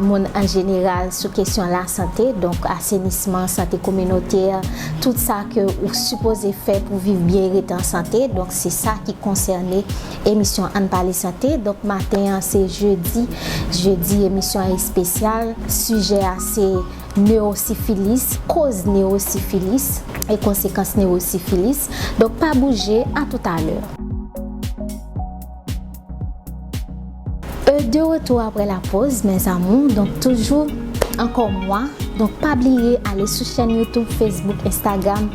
moun an jeneral sou kesyon lasante, donk asenisman, sante kominotè, tout sa ke ou sipoze fè pou viv byen e rete an sante, donk se sa ki konsène emisyon Ann Pale Sante. Donk maten an se jedi, jedi emisyon an espesyal, sijè a se newosifilis, koz newosifilis e konsekans newosifilis. Donk pa bouje, a toutalè. E de retou apre la poz mes amour donk toujou anko mwa donk pa bliye ale sou chèn YouTube Facebook Instagram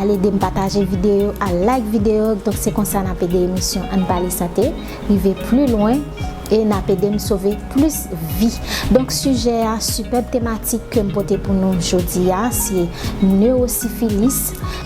al edem pataje video al like video donk se konsa nap ede emisyon ann pale sante rive pli lwen e nap edem sove plis vi donk sijè a sipèb tematik kem pote pou nou jodia se neurosifilis.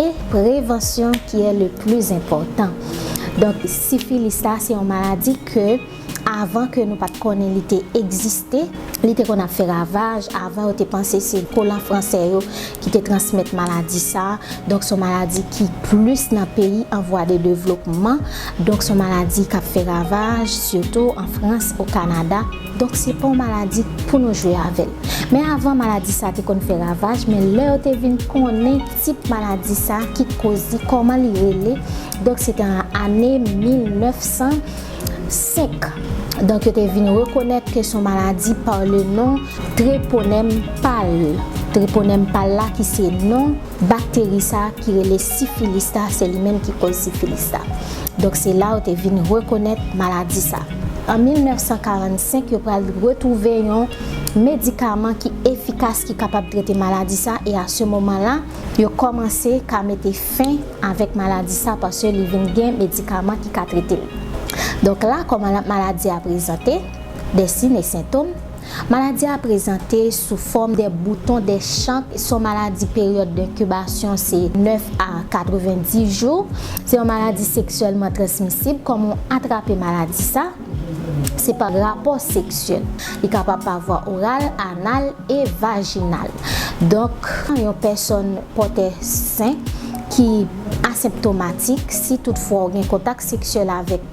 E prevansyon ki e le pli enpòtan. Donk sifilis la se yon maladi ke avan ke nou pat konnen li te egziste, li te konn ap fè ravaj, avan yo te panse se kolan fransè yo ki te transmèt maladi sa, donk son maladi ki plis nan peyi an vwa de devlopman, donk son maladi kap fè ravaj sitou an frans, o kanada. Donk se pa yon maladi pou nou jwe avè l. Men avan maladi sa te konn fè ravaj men lè yo te vin konnen tip maladi sa ki t koz li kòman li rele donk se te an ane 1905 donk yo te vin rekonèt ke son maladi par le non Treponèm pal Treponèm pal la ki se non Bakteri sa ki rele sifilis la se li menm ki koz sifilis la. Donk se la yo te vin rekonèt maladi sa. An 1945 yo pral retwouve yon medikaman ki efikas ki kapab trete maladi sa e a se moman la yo kòmanse ka mete fen avèk maladi sa paske li vin gen medikaman ki ka trete l. Donk la kòman maladi a prezante, de sine sentom. Maladi a prezante sou fòm de bouton de chank, se yon maladi peryòd denkibasyon se 9 a 90 jou, se yon maladi seksyèlman transmisib, kòman ou atrape maladi sa, se pa rapò seksyèl, li kapab pa vwa oral, anal e vajinal, donk yon pèsòn pòtè sen ki aseptomatik, si tout fwa ou gen kontak seksyèl avèk.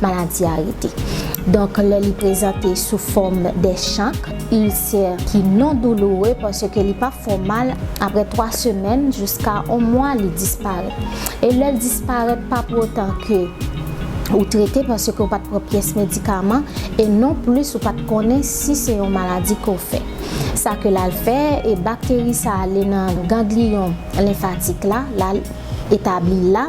Maladi a rete. Donk lè li prezante sou fòm de chank, ilsè ki non douloure paske li pa fè w mal, aprè 3 semèn jiska 1 mwa li disparèt. E lè l disparèt pa pou otan ke ou trete paske ou pa t pran pyès medikaman e non plis ou pa t konnen si se yon maladi ke w fè. Sa ke l al fè e bakteri sa ale nan gangliyon lenfatik la, l al etabli la.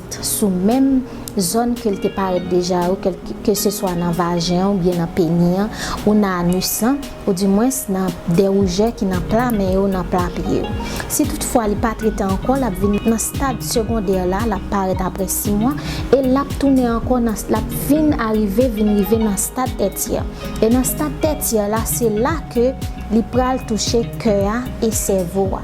sou menm zòn ke l te parèt deja yo, keseswa nan vajen an oubyen nan peni an, ou nan anus lan, oudimwens nan de rougè ki nan pla men yo, nan pla pye yo. Si toutfwa li pa trete ankò, l ap vin nan stad segondè la, l ap parèt apre 6 mwa, e l ap tounen ankò nan, l ap vin arive, vin rive nan stad tètyè. E nan stad tètyè la, se la ke li pral touche kè a e sèvo a.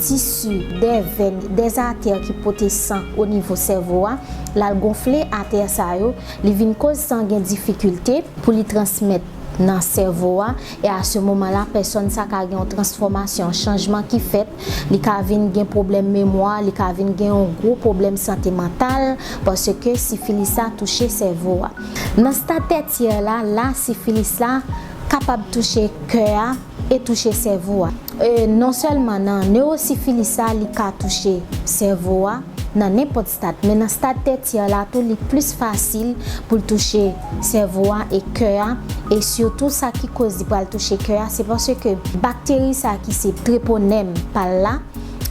tisi, dè vèn, dè atè ki pote san o nivo sèvo a, lal gonfle atè sa yo, li vin koz san gen difikilte pou li transmèt nan sèvo a, e a se moman la pèsòn sa ka gen yon transfòmasyon, chanjman ki fèt, li ka vin gen pwoblèm memwa, li ka vin gen yon gwo pwoblèm sante mantal, paske sifilis la touche sèvo a. Nan stad tètyè la, la sifilis la kapab touche kè a, e touche sèvo a. E non sèlman nan newosifilis la li ka touche sèvo a nan nenpòt stad men nan stad tètyè la tou li plis fasil pou l touche sèvo a e kè a e sitou sa ki koz li pral touche kè a se paske bakteri sa ki se treponèm pa l la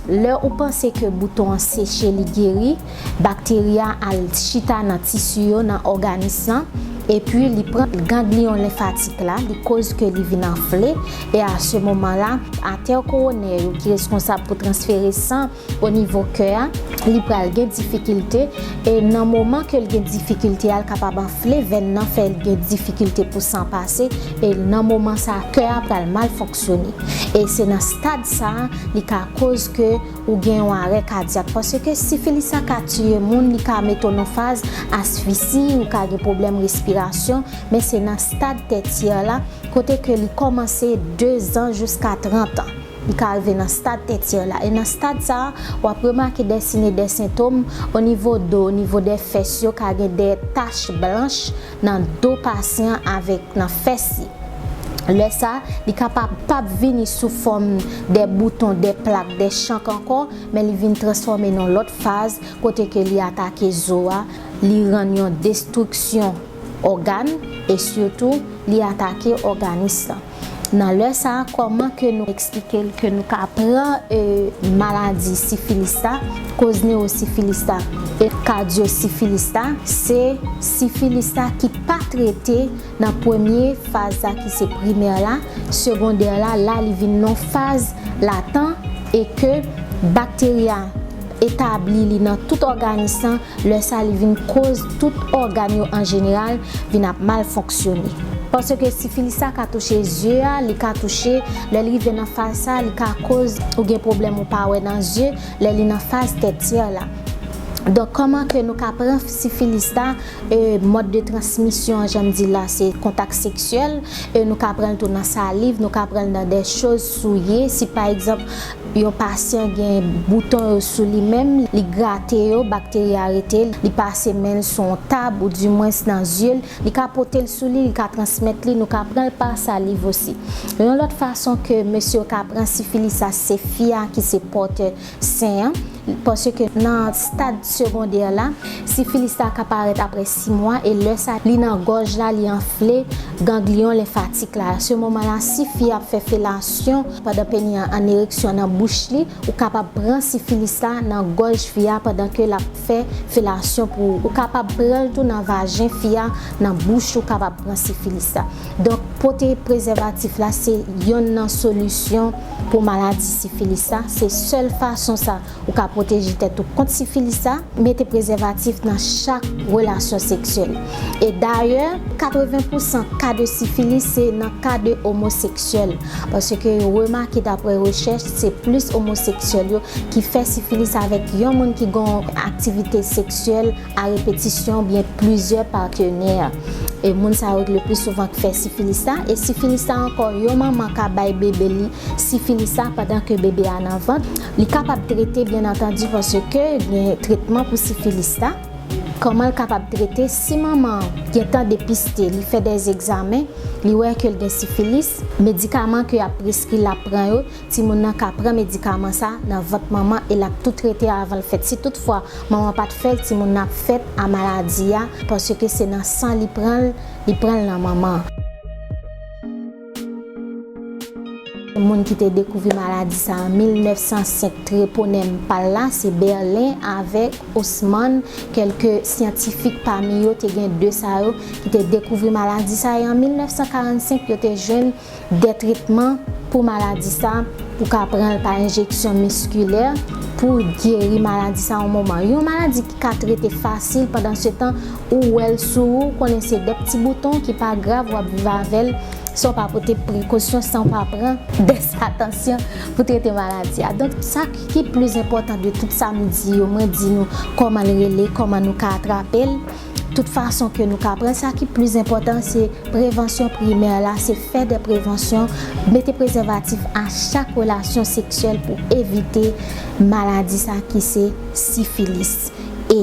lè ou panse ke bouton an seche li geri Bakteri a al chita nan tisi yo nan òganis lan, epi li pran gangliyon lenfatik la, li koz ke li vin anfle, e a se moman la, atè kowonè yo ki reskonsab pou transfere san o nivo kè a, li pral gen difikilte, e nan moman ke l gen difikilte a, l kapab anfle vèn nan fè l gen difikilte pou san pase, e nan moman sa kè a pral mal fonksyone. E se nan stad sa li ka koz ke Ou gen yon arè kadyak paske sifilis la ka tiye moun li ka mete w nan faz asfisi ou ka gen pwoblèm respirasyon men se nan stad tètyè la kote ke li kòmanse dezan jiska trantan li ka rive nan stad tètyè la e nan stad sa a wap remake dèsine dè sentom onivo do onivo dè fès yo ka gen dè tach blanch nan do pasyan avèk nan fès li. Lè sa, li ka pa pap vini sou fòm dè bouton, dè plak, dè chank ankò, men li vin transfòme nan lòt faz kote ke li atake zo a, li rann yon destriksyon ògàn e sitou li atake òganis lan. Nan lè sa a kòman ke nou eksplike l ke nou ka pran maladi sifilis la, koz newosifilis la e kadyosifilis la, se sifilis la ki pa trete nan premye faz la ki se primè la, segondè la, la li vin nan faz latan e ke bakteri a etabli li nan tout òganis lan, Lè sa li vin koz tout ògàn yo an jeneral vin ap mal fonksyone. Paske sifilis sa ka touche zye a, li ka touche, lè l rive nan faz sa li ka koz ou gen pwoblèm ou pa wè nan zye lè li nan faz tètyè la. Donk kòman ke nou ka pran sifilis la e mòd de transmisyon an jan m di la se kontak seksyèl e nou ka pran l tou nan saliv, nou ka pran l nan dè choz souye si pa egzanp Yon pasyan gen bouton yo sou li menm, li grate yo, bakteri a rete, li pase men l sou yon tab ou di mwens nan zye l, li ka pote l sou li, li ka transmèt li, nou ka pran l pa saliv osi. Yon lòt fason ke mesye yo ka pran sifilis la se fi a ki se pòtè sen an. Paske nan stad segondè la, sifilis la ka parèt aprè 6 mwa e lè sa li nan gòj la li anfle gangliyon lenfatik la. Se moman la si fi ap fè felasyon pandan peni an an ereksyon nan bouch li, ou kapab pran sifilis la nan gòj fi a pandan ke lap fè felasyon pou ou. Ou kapab pranl tou nan vajen fi a, nan bouch ou kapab pran sifilis la. Donk pote prezèvatif la se yonn nan solisyon pou maladi sifilis la, se sèl fason sa ou ka pwoteje tèt ou kont sifilis la, mete prezèvatif nan chak relasyon seksyèl. E dayè 80 pou san ka de sifilis se nan ka de omoseksyèl, paske yo remake daprè rechèch se plis omoseksyèl yo ki fè sifilis avèk yon moun ki gon aktivite seksyèl A repetisyon oubyen plizyè patenè. E moun sa yo k le pli souvan k fè sifilis la. E sifilis la ankò yon manman ka bay bebe li sifilis la pandan ke bebe a nan vant. Li kapab trete byen antandi pase ke gen tretman pou sifilis la. Kòman l kapab trete si manman an gen tan depiste li fè dè egzamen li wè ke l gen sifilis. Medikaman ke y ap preskri l ap pran yo Timoun nan ka pran medikaman sa nan vant manman e lap tou trete avan l fèt si tout fwa manman pat fèl timoun nan ap fèt a maladi a paske se nan san li pran l li pran l nan manman. Moun ki te dekouvri maladi sa an 1905 treponem pal la se Berlin avek Haussmann kelke syantifik pami yo te gen 2 sa yo ki te dekouvri maladi sa e an 1945 yo te jwenn Gen tretman pou maladi sa, ou ka pran l pa enjeksyon miskilè pou w geri maladi sa yon moman. Yon maladi ki ka trete fasil pandansetan ou wè l sou ou, ou konnen se de pti bouton ki pa grav w ap viv avè l san w pa pote prekosyon, san w pa pran des atansyon pou trete maladi a. Donk sa ki plis enpòtan de tout sa m di yo, mwen di nou kòman l rele, kòman nou ka atrape l. Tout fason ke nou ka pran sa ki plis enpòtan se prevansyon primè la se fè de prevansyon mete prezèvatif a chak relasyon seksyèl pou evite maladi sa ki se sifilis e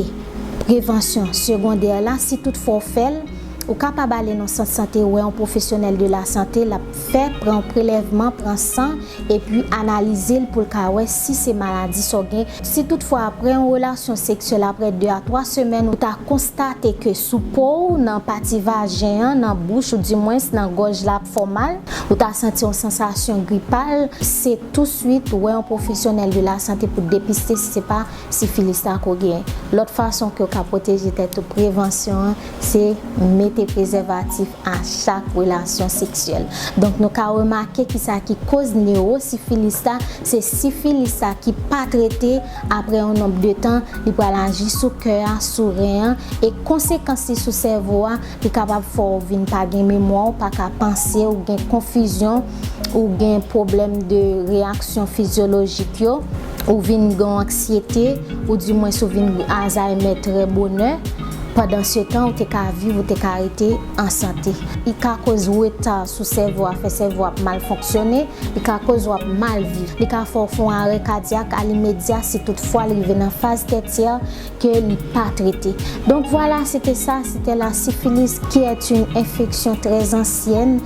prevansyon segondè la si tout fwa w fèl ou kapab ale nan sant sante wè yon pwofesyonèl de la sante lap fè pran w prelèvman pran san. epi analize l pou l ka wè si se maladi sa w gen, si tout fwa aprè yon relasyon seksyèl aprè 2 a 3 semèn ou ta konstate ke sou po w nan pati vajen an nan bouch ou di mwens nan gòj la ap fè w mal, ou ta santi yon sansasyon gripal, se tou swit wè yon pwofesyonèl de la sante pou depiste si se pa sifilis la ke w gen. Lòt fason ke w ka pwoteje tèt ou prevansyon an se mete prezèvatif. a chak relasyon seksyèl. Donk nou ka remake ki sa ki koz newosifilis la, se sifilis la ki pa trete, aprè yon nonb de tan, li pral aji sou kè a, sou ren an, e konsekans li sou sèvo a, li kapab fè w vin pa gen memwa, w pa ka panse, ou gen konfizyon, ou gen pwoblèm de reyaksyon fizyolojik yo, ou vin gen yon anksyete, ou di mwens ou vin azaymè trè bonè. Pandansetan ou te ka viv, ou te ka rete an sante. Li ka koz reta sou sèvo a, fè sèvo ap mal fonksyone, li ka koz wap mal viv. Li ka fè w fon arè kadyak alimedya si tout fwa li rive nan faz tètyè ke li pa trete. Donk vwala, se te sa, se te la, sifilis ki èt yn enfeksyon trè zansyèn,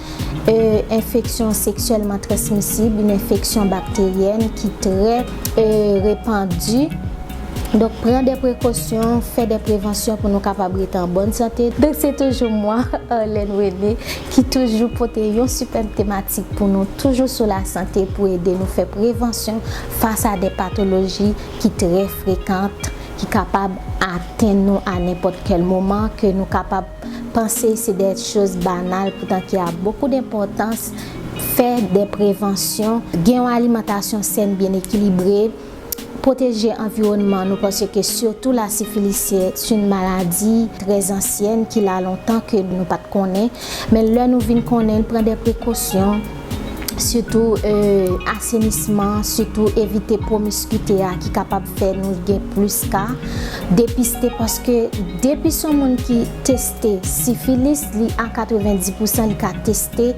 E enfeksyon seksyèlman transmisib, yn enfeksyon bakteryèn ki trè. E repandi. Donk pran dè prekosyon, fè dè prevansyon pou nou kapab rete an bòn sante. Donk se toujou mwa, Arlène René, ki toujou pote yon sipèb tematik pou nou toujou sou la sante pou ede nou fè prevansyon fas a dè patoloji ki trè frekant ki kapab atenn nou a nenpòt kèl moman ke nou kapab Panse se de choz banal poutan ki a bokou denpòtans, fè de prevansyon, gen yon alimantasyon sèn byen ekilibre, pwoteje anviwònman nou panse ke sitou la sifilis se yn maladi trè zansyèn ki la lontan ke nou pat konnen men lè nou vin konnen pran de prekosyon. sitou asenisman, sitou evite pwomiskite a ki kapab fè nou gen plis ka, depiste paske depi son moun ki teste sifilis li a 90 pousan li ka teste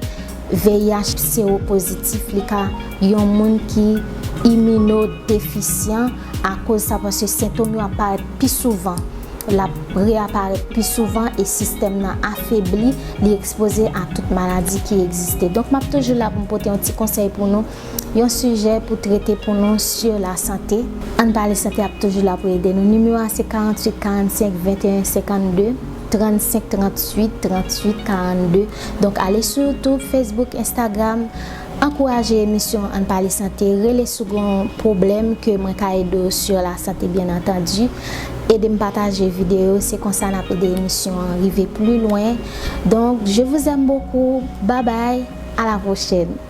VIH sewopozitif li ka yon moun ki imino defisyan. Akoz sa paske sentom yo ap parèt pi souvan, l ap reaparèt pi souvan e sistèm nan afebli, li ekspoze a tout maladi ki egziste. Donk m ap toujou la pou m pote yon ti konsèy pou nou, yon sijè pou trete pou nou sur la santé. Ann pale santé ap toujou la pou ede nou. Nimewo a se 48 45 21 52, 35 38 38 42. Donk ale sou YouTube, Facebook, Instagram. Ankouraje emisyon ann pale sante rele si w gen yon pwoblèm ke mwen ka ede w sur la santé byen antandu ede m pataje videyo se konsa n ap ede emisyon an rive pli lwen donk je vous aime beaucoup babay a la pwochèn.